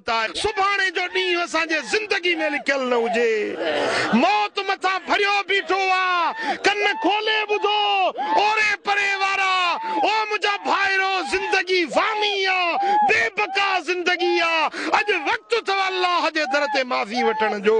ته سڀاڻي جو ڏينهن اسان جي زندگي ۾ لکيل نه هجي. موت مٿان ڀريو بيٺو آ، ڪن کولي ٻڌو، اوري پري وارا، او منهنجا ڀائرو، زندگي فاني آ، بي بقا زندگي آ، اڄ وقت اٿو الله جي در تي معافي وٺڻ جو.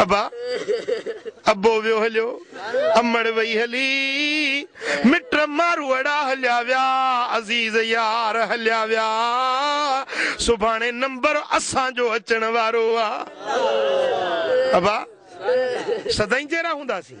ابا! ابو ويو هليو، امڙ وئي هلي، مٽ ماروئڙا هليا ويا، عزيز يار هليا ويا، سڀاڻي نمبر اسان جو اچڻ وارو آ. ابا! سدائين جهڙا هونداسين.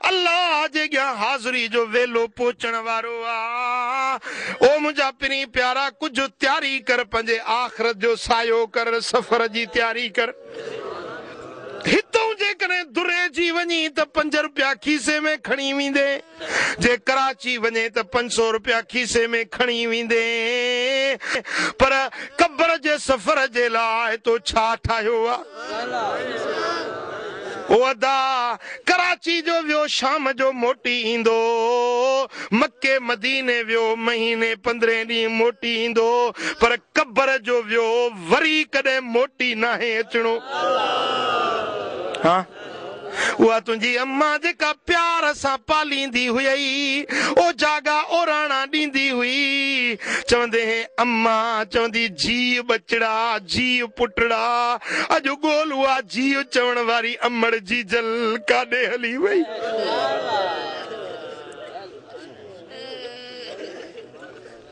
الله جي اڳيان حاضري جو ويلو پهچڻ وارو آ. او منهنجا پرين پيارا! ڪجهه تياري ڪر، پنهنجي آخرت جو سعيو ڪر، سفر جي تياري ڪر. هتئون جيڪڏهن دريجي وڃين ته پنج رپيا کيسي ۾ کڻي ويندين، جي ڪراچي وڃين ته پنج سؤ رپيا کيسي ۾ کڻي ويندين، پر قبر جي سفر جي لاء تو ڇا ٺاهيو آ؟ او ادا! ڪراچي جو ويو شام جو موٽي ايندو، مڪي مديني ويو مهيني پندرهين ڏينهن موٽي ايندو، پر قبر جو ويو وري ڪڏهن موٽي ناهي اچڻو. اها تنهنجي امان جيڪا پيار سان پاليندي هئي، او جاڳا اوراڻا ڏيندي هئي. چوندي هين امان، چوندي جيء ٻچڙا، جيء پٽڙا، اڄ ڳول اها جيء چوڻ واري امڙ جيجل ڪاڏي هلي وئي.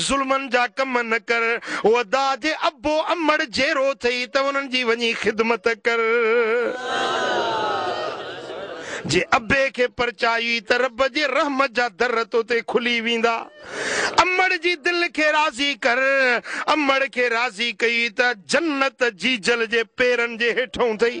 ظلمن جا ڪم نه ڪر، ودا جي ابو امڙ جيرو ٿئي ته انهن جي وڃي خدمت ڪر. جي ابي کي پرچائي ته رب جي رحمت جا در تو تي کلي ويندا. امڙ جي دل کي راضي ڪر. امڙ کي راضي ڪئي ته جنت جيجل جي پيرن جي هيٺئون ٿئي.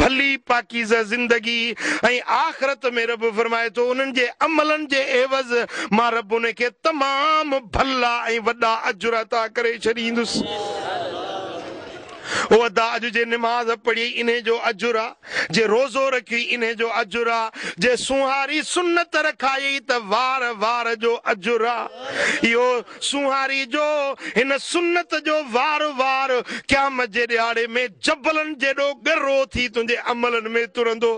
ڀلي پاڪيزه زندگي ۽ آخرت ۾ رب فرمائي ٿو انهن جي عملن جي عيوض مان رب انهن کي تمام ڀلا ۽ وڏا اجر عطا ڪري ڇڏيندس. او ادا اڄ جي نماز پڙهي انهي جو اجر آ جي روزو رکي انهي جو اجر آ جي سونهاري سنت رکائي ته وار وار جو اجر آ اهو سونهاري جو هن سنت جو وار وار قيامت جي ڏهاڙي ۾ جبلن جيڏو ڳرو ٿي تنهنجي عملن ۾ ترندو.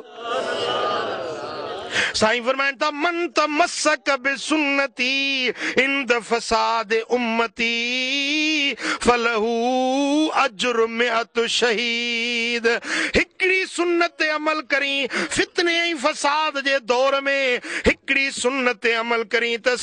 سائين فرمائن ٿا من تمسڪ بسنتي عند فساد امتي فله اجر مئة شهيد هڪڙي سنت تي عمل ڪرين فتني ۽ فساد جي دور ۾ هڪڙي سنت تي عمل ڪرين ته